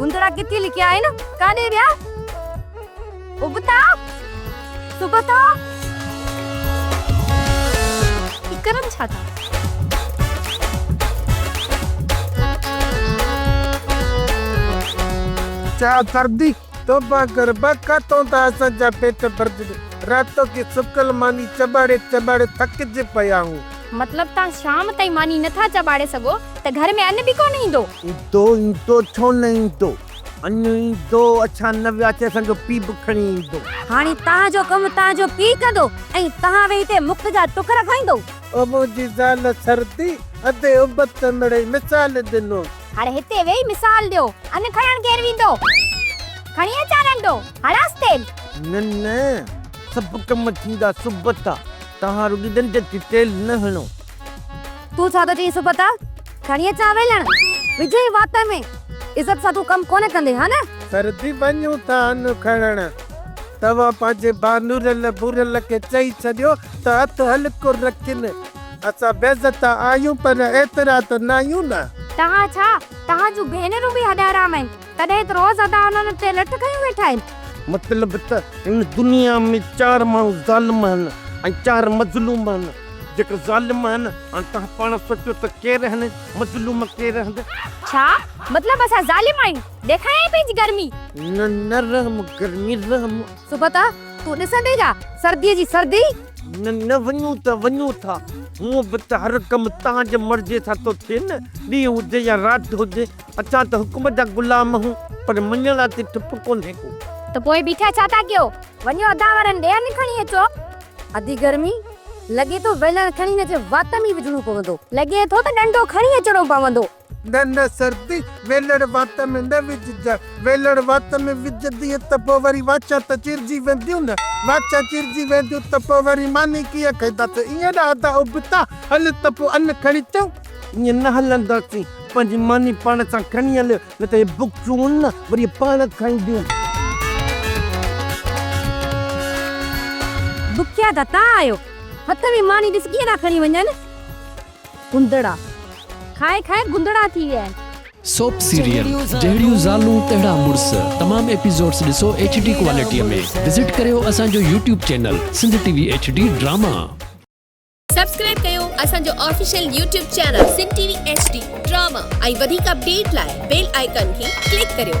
گندڙا ڪٿي لڪيا آهن ڪاڏي ويا ابتا سبتا هي ڪرن ڇا ٿا چا سردي توبه ڪر بکا تون ته اسان جا پيٽ ڀرجي راتو ڪي سڪل ماني چٻاڙي چٻاڙي ٿڪجي پيا آهيون. مطلب تان شام تائين ماني نٿا چٻاڙي سگهو ته گهر ۾ ان به ڪونه ايندو. ايندو ايندو ڇو نه ايندو. اڃ ايندو اڇا نه ويا اچي اسان جو پي به کڻي ايندو. هاڻي توهان جو ڪم توهان جو پي ڪندو ۽ توهان ويهي هتي مفت جا ٽڪر کائيندو. او منهنجي زال سردي ادي ابت مڙئي مثال ڏنو. هاڻي هتي ويهي مثال ڏيو. ان کڻڻ ڪير ويندو. کڻي اچان رنڊو هڻانس تيل. نه نه سڀ ڪم ٿيندا سبتا توهان رڳي ڏنڊ تي تيل نه هڻو. تون ڇا ٿو چئين سپتا؟ کڻي اچان ويلڻ، وجهين وات ۾، عزت سان تون ڪم ڪونه ڪندين ها نه؟ سرتي وڃون ٿا ان کڻڻ. توهان پنهنجي ڀانورل ڀورل کي چئي ڇڏيو ته هٿ هلڪو رکين. اسان بيعزتا آهيون پر ايترا ته ناهيون نه. توهان ڇا، توهان جون ڀينرون به هڏ حرام آهن. تڏهن ته روز ادا انهن تي لٺ کنيون ويٺا آهن. مطلب ته هن دنيا ۾ چار ماڻهو ظالم آهن ۽ چار مظلوم آهن. جيڪي ظالم آهن، هاڻي توهان پاڻ سوچيو ته ڪير آهن ۽ مظلوم ڪير آهن؟ ڇا مطلب اسان ظالم آهيون؟ ڏيکاريائين پنهنجي گرمي. نه نه رحم گرمي رحم. صبح ته تون ڏسندي جا سرديء جي سردي. نه نه وڃون ته وڃون ٿا. هونء به ته هر ڪم تنهنجي مرضيء سان ٿو ٿئي نه. ڏينهن هجي يا رات هجي. اسان ته حڪم جا غلام آهيون پر مڃڻ لاء اتي چپ ڪونهي ڪو. ته پوء بيٺا ڇا ٿا ڪيو؟ وڃو ادا وارن ڏيئن کڻي اچو. ادي گرمي لڳي ٿو ويلڻ کڻي هن جي وات ۾ ئي وجهڻو پوندو. لڳي ٿو ته ڏنڊو کڻي اچڻو پوندو. نه نه سردي ويلڻ وات ۾ نه وجهجان. ويلڻ وات ۾ وجهندينء ته پوء وري واڇان ته چيرجي وينديون نه. واڇان چيرجي وينديون ته پوء وري ماني ڪيئن کائينداسين. ائين نه ادا ابتا هل ته پوء ان کڻي اچون. ائين نه هلنداسين. پنهنجي ماني پاڻ سان کڻي هل، نه ته هي بڪسون نه وري پاڻ کائينديون. بکيا ته تان آهيو، هٿ ۾ ماني ڏس ڪيئن ٿا کڻي وڃن. گندڙا کائي کائي گندڙا ٿي ويا آهن. سوپ سيريل جهڙيون زالون تهڙا مڙس تمام ايپيسوڊس ڏسو ايڇ ڊي ڪوالٽيء ۾ وزٽ ڪريو اسان جو YouTube channel Sindh T V H D drama. Subscribe ڪيو اسان جو official YouTube channel Sindh T V H D drama ۽ وڌيڪ اپڊيٽ لاء بيل آئيڪان کي ڪلڪ ڪريو.